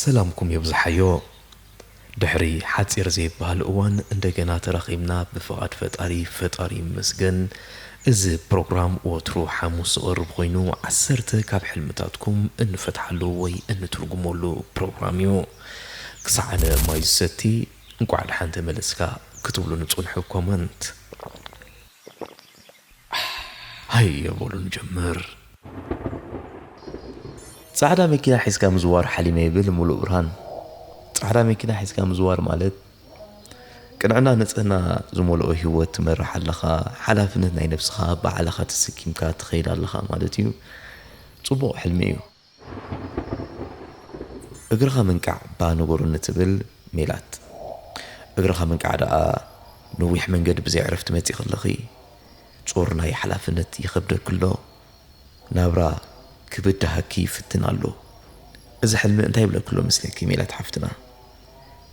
ሰላምኩም የብዝሓዮ ድሕሪ ሓጺር ዘይብሃል እዋን እንደገና ተራኺብና ብፍቓድ ፈጣሪ ፈጣሪ ይመስገን እዚ ፕሮግራም ወትሩ ሓሙስ ዝቐርብ ኾይኑ ዓሰርተ ካብ ሕልምታትኩም እንፈትሓሉ ወይ እንትርጉመሉ ፕሮግራም እዩ ክሳዕ ኣነ ማይ ዝሰቲ እንቋዕ ድሓን ተመለስካ ክትብሉኒ ጽንሑ ኮመንት ሃየ በሉ ንጀምር። ጻዕዳ መኪና ሒዝካ ምዝዋር ሓሊመ ይብል ሙሉእብርሃን። ጻዕዳ መኪና ሒዝካ ምዝዋር ማለት ቅንዕና ንጽህና ዝመልኦ ህይወት ትመርሕ ኣለኻ፣ ሓላፍነት ናይ ነብስኻ ብዓልኻ ተሰኪምካ ትኸይድ ኣለኻ ማለት እዩ። ጽቡቕ ሕልሚ እዩ። እግርኻ ምንቃዕ እባ ንበሩኒ ትብል ሜላት እግርኻ ምንቃዕ ደኣ ነዊሕ መንገዲ ብዘይ ዕረፍቲ መጺኪ ኣለኺ ጾር ናይ ሓላፍነት ይኸብደኪ ኣሎ ናብራ ክብዳሃኪ ይፍትን ኣሎ እዚ ሕልሚ እንታይ ይብለኪ ኣሎ መስለኪ ሜላት ሓፍትና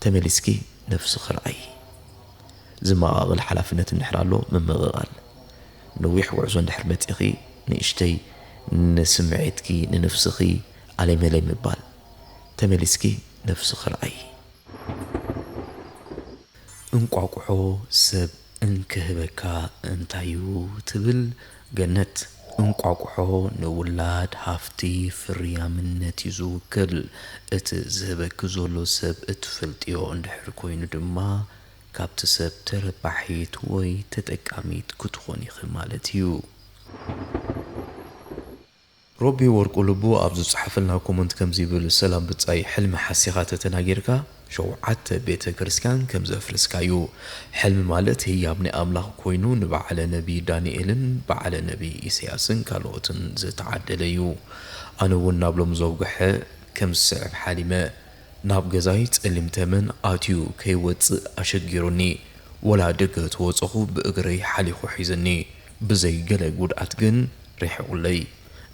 ተመሊስኪ ነብስኺ ርኣዪ። ዝመቓቕል ሓላፍነት እንድሕር ኣሎ ምምቕቓል። ነዊሕ ጉዕዞ እንድሕር መፂእኺ ንእሽተይ ንስምዒትኪ ንንፍስኺ ኣለይ መለይ ምባል። ተመሊስኪ ነብስኺ ርኣዪ። እንቋቁሖ ሰብ እንክህበካ እንታዩ ትብል ገነት? እንቋቁሖ ንውላድ ሃፍቲ ፍርያምነት'ዩ ዝውክል። እቲ ዝህበኪ ዘሎ ሰብ እትፈልጥዮ እንድሕር ኮይኑ ድማ ካብቲ ሰብ ተረባሒት ወይ ተጠቃሚት ክትኾን ኢኺ ማለት'ዩ። ሮቢ ወርቁ ልቡ ኣብ ዝጸሓፈልና ኮመንት ከምዚ ይብል ሰላም ብጻይ ሕልሚ ሓሲኻ ተተናጊርካ ሸውዓተ ቤተ ክርስትያን ከም ዘፍርስካ እዩ ሕልሚ ማለት ህያብ ናይ ኣምላኽ ኮይኑ ንበዓለ ነቢ ዳንኤልን በዓለ ነቢ ኢሰያስን ካልኦትን ዝተዓደለ እዩ ኣነ ውን ናብ ሎሚ ዘውገሐ ከም ዝስዕብ ሓሊመ ናብ ገዛይ ጸሊም ተመን ኣትዩ ከይወጽእ ኣሸጊሩኒ ወላ ደገ ተወጸኹ ብእግረይ ሓሊኹ ሒዝኒ ብዘይ ገለ ጉድኣት ግን ሪሒቁለይ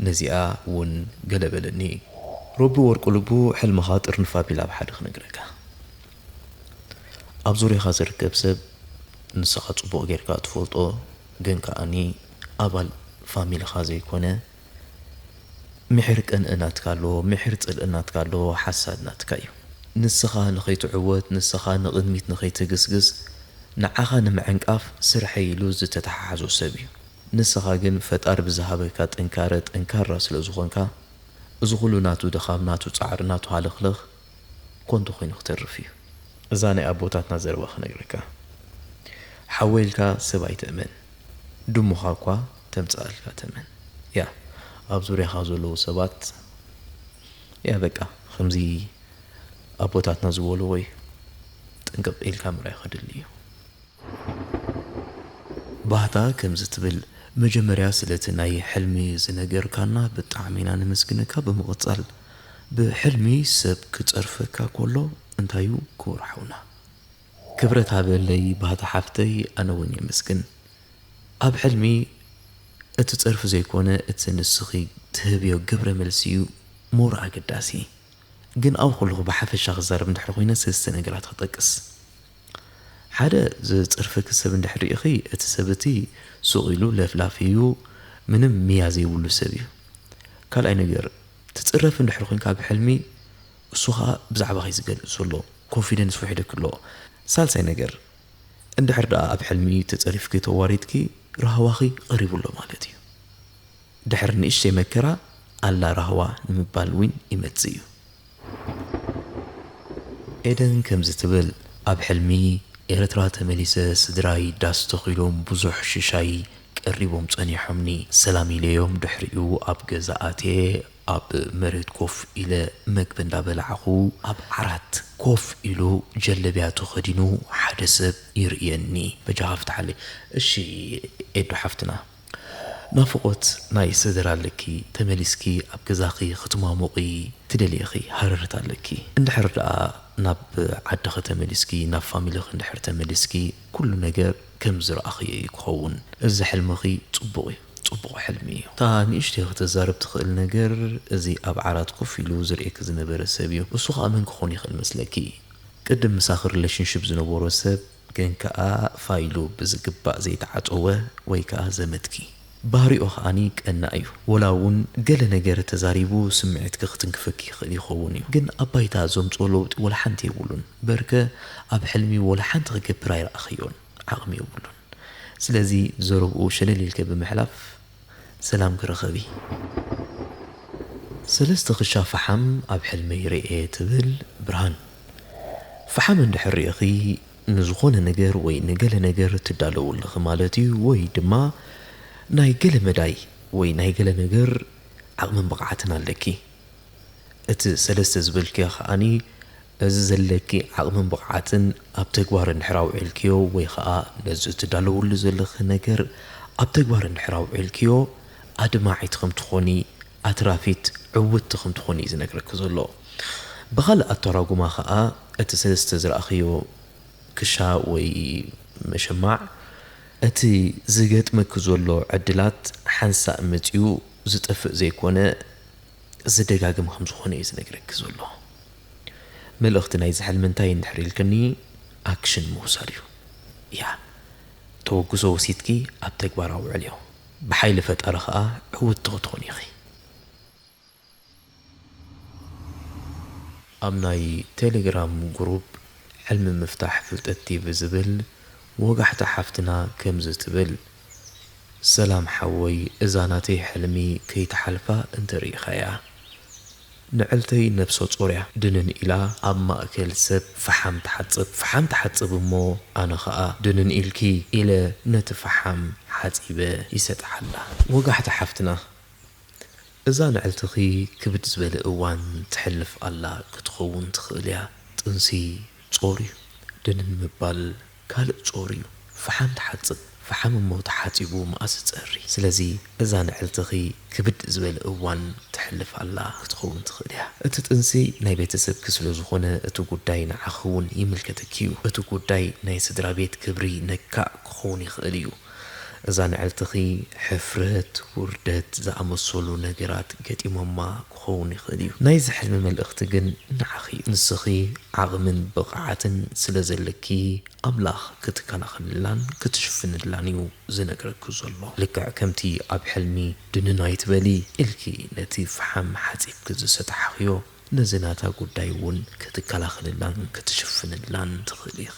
ነዚኣ ውን ገለ በለኒ ሮቢ ወርቁ ልቡ ሕልምኻ ጥርንፍ ኣቢለ ኣብ ሓደ ክነግረካ ኣብ ዙርያኻ ዝርከብ ሰብ ንስኻ ጽቡቅ ጌርካ ትፈልጦ ግን ከኣ ኣባል ፋሚልኻ ዘይኮነ ምሒር ቅንኢ ናትካ ኣሎ ምሒር ጽልኢ ናትካ ኣሎ ሓሳድ ናትካ እዩ ንስኻ ንኸይትዕወት ንስኻ ንቕድሚት ንኸይትግስግስ ንዓኻ ንምዕንቃፍ ስርሐይ ኢሉ ዝተተሓሓዞ ሰብ እዩ ንስኻ ግን ፈጣሪ ብዝሃበካ ጥንካረ ጠንካራ ስለዝኾንካ እዚ ኹሉ ናቱ ድኻም ናቱ ጻዕሪ ናቱ ሃለኽለኽ ኮንቱ ኮይኑ ክተርፍ እዩ። እዛ ናይ ኣቦታትና ዘረባ ክነግረካ ሓወይ ኢልካ ሰብ ኣይትእመን ድሙኻ እኳ። ተምጽኣልካ ተመን ያእ ኣብ ዙርያኻ ዘለው ሰባት ያእ በቃ ኸምዚ ኣቦታትና ዝበልዎ እዩ ጥንቅቅ ኢልካ ምርኣይ ኸድሊ እዩ። ባህታ ከምዚ ትብል መጀመርያ ስለቲ ናይ ሕልሚ ዝነገርካና ብጣዕሚ ኢና ነመስግነካ ብምቅጻል ብሕልሚ ሰብ ክጸርፈካ ኮሎ እንታይ ዩ ክቡር ሓውና ክብረት ሃበለይ ባህታ ሓፍተይ ኣነ ውን የመስግን ኣብ ሕልሚ እቲ ጸርፊ ዘይኮነ እቲ ንስኺ ትህብዮ ግብረ መልሲ ዩ ሞር ኣገዳሲ ግን ኣብኡ ከለኹ ብሓፈሻ ክዛረብ እንድሕር ኮይነ ሰልስተ ነገራት ክጠቅስ ሓደ ዝጽርፈኪ ሰብ እንድሕር ሪኢኺ እቲ ሰብ እቲ ሱቕ ኢሉ ለፍላፊ ዩ ምንም ምያ ዘይብሉ ሰብ ዩ ካልኣይ ነገር ትጽረፊ እንድሕር ኮይንካ ኣብ ሕልሚ እሱ ከኣ ብዛዕባኺ ዝገልጽ ዘሎ ኮንፊደንስ ውሒዱኪ ኣሎ ሳልሳይ ነገር እንድሕር ደኣ ኣብ ሕልሚ ተጸሪፍኪ ተዋሪድኪ ራህዋኺ ቀሪቡ ኣሎ ማለት እዩ ድሕሪ ንእሽተይ መከራ ኣላ ራህዋ ንምባል ዊን ይመጽእ እዩ። ኤደን ከምዚ ትብል ኣብ ሕልሚ ኤረትራ ተመሊሰ ስድራይ ዳስ ተኺሎም ቡዙሕ ሽሻይ ቀሪቦም ጸኒሖምኒ ሰላም ኢለዮም ድሕሪኡ ኣብ ገዛ ኣትየ ኣብ መሬት ኮፍ ኢለ መግቢ እንዳበላዕኹ ኣብ ዓራት ኮፍ ኢሉ ጀለብያ ተኸዲኑ ሓደ ሰብ ይርእየኒ። በጃኻ ፍትሓለይ እሺ ኤዱ ሓፍትና። ናፍቖት ናይ ሰደራ ኣለኪ ተመሊስኪ ኣብ ገዛኺ ክትማሙቒ ትደልይ ኢኺ ሃረርታ ኣለኪ እንድሕር ደኣ ናብ ዓድኺ ተመሊስኪ ናብ ፋሚሊኺ እንድሕር ተመሊስኪ ኩሉ ነገር ከም ዝረኣኽዮ እዩ ክኸውን እዚ ሕልምኺ ጽቡቕ እዩ ጽቡቕ ሕልሚ እዩ። እታ ንእሽተይ ክትዛረብ ትኽእል ነገር እዚ ኣብ ዓራት ኮፍ ኢሉ ዝርእየኪ ዝነበረ ሰብ እዩ። እሱ ከኣ መን ክኾን ይኽእል መስለኪ? ቅድም ምሳኺ ሪለሽንሽፕ ዝነበሮ ሰብ ግን ከኣ ፋይሉ ብዝግባእ ዘይተዓጸወ ወይ ከኣ ዘመድኪ። ባህሪኡ ከኣ ቀናእ እዩ። ወላ እውን ገለ ነገር ተዛሪቡ ስምዒትኪ ክትንክፈኪ ይኽእል ይኸውን እዩ። ግን ኣብ ባይታ ዘምጽኦ ለውጢ ወላ ሓንቲ የብሉን። በርከ ኣብ ሕልሚ ወላ ሓንቲ ክገብር ኣይረኣኽዮን። ዓቕሚ የብሉን። ስለዚ ዘረብኡ ሸለል ኢልከ ብምሕላፍ ሰላም ክረኸብ እዪ። ሰለስተ ክሻ ፈሓም ኣብ ሕልመይ ርእየ ትብል ብርሃን። ፈሓም እንድሕር ሪእኺ ንዝኾነ ነገር ወይ ንገለ ነገር ትዳለዉ ኣለኺ ማለት እዩ ወይ ድማ ናይ ገለ መዳይ ወይ ናይ ገለ ነገር ዓቕምን ብቕዓትን ኣለኪ። እቲ ሰለስተ ዝበልክዮ ከኣ በዚ ዘለኪ ዓቕምን ብቕዓትን ኣብ ተግባር እንድሕር ኣውዒልክዮ ወይ ከኣ ነዚ እትዳለውሉ ዘለኺ ነገር ኣብ ተግባር እንድሕር ኣውዒልክዮ ኣድማዒት ከም ትኾኒ ኣትራፊት ዕውትቲ ከም ትኾኒ እዩ ዝነግረኪ ዘሎ። ብኻልእ ኣተራጉማ ከኣ እቲ ሰለስተ ዝረኣኽዮ ክሻ ወይ መሸማዕ እቲ ዝገጥመኪ ዘሎ ዕድላት ሓንሳእ መጺኡ ዝጠፍእ ዘይኮነ ዝደጋገም ከም ዝኾነ እዩ ዝነግረኪ ዘሎ። መልእኽቲ ናይዚ ሕልሚ እንታይ እዩ እንድሕር ኢልክኒ ኣክሽን ምውሳድ እዩ። ያዕ! ተወግሶ ወሲድኪ ኣብ ተግባር ኣውዕልዮ። ብሓይሊ ፈጣሪ ከኣ ዕውቲ ክትኾኒ ኢኺ። ኣብ ናይ ቴሌግራም ጉሩብ ሕልሚ ምፍታሕ ፍልጠት ቲቪ ዝብል ወጋሕታ ሓፍትና ከምዚ ትብል። ሰላም ሓወይ እዛ ናተይ ሕልሚ ከይትሓልፋ እንተሪኢኻያ ንዕልተይ ነብሰጾር እያ ድንን ኢላ ኣብ ማእከል ሰብ ፍሓም ትሓጽብ ፍሓም ትሓጽብ እሞ ኣነ ኸኣ ድንን ኢልኪ ኢለ ነቲ ፍሓም ሓጺበ ይሰጥሓላ ወጋሕታ ሓፍትና እዛ ንዕልትኺ ክብድ ዝበለ እዋን ተሕልፍ ኣላ ክትኸውን ትኽእል እያ። ጥንሲ ጾር እዩ። ድንን ምባል ካልእ ጾር እዩ። ፍሓም ትሓጽብ፣ ፍሓም እሞ ተሓጺቡ መኣስ ዝጸሪ። ስለዚ እዛ ንዕልትኺ ክብድ ዝበለ እዋን ተሕልፍ ኣላ ክትኸውን ትኽእል እያ። እቲ ጥንሲ ናይ ቤተሰብኪ ስለ ዝኾነ እቲ ጉዳይ ንዓኺ እውን ይምልከተኪ እዩ። እቲ ጉዳይ ናይ ስድራቤት ክብሪ ነካእ ክኸውን ይኽእል እዩ። እዛ ንዕልትኺ ሕፍረት፣ ውርደት ዝኣመሰሉ ነገራት ገጢሞማ ክኸውን ይኽእል እዩ። ናይዚ ሕልሚ መልእኽቲ ግን ንዓኺ እዩ። ንስኺ ዓቕምን ብቕዓትን ስለ ዘለኪ ኣምላኽ ክትከላኸልላን ክትሽፍንላን እዩ ዝነግረኪ ዘሎ። ልክዕ ከምቲ ኣብ ሕልሚ ድንን ኣይትበሊ ኢልኪ ነቲ ፍሓም ሓጺብኪ ዝሰጣሕኽዮ ነዚ ናታ ጉዳይ እውን ክትከላኸልላን ክትሽፍንላን ትኽእሊ ኢኺ።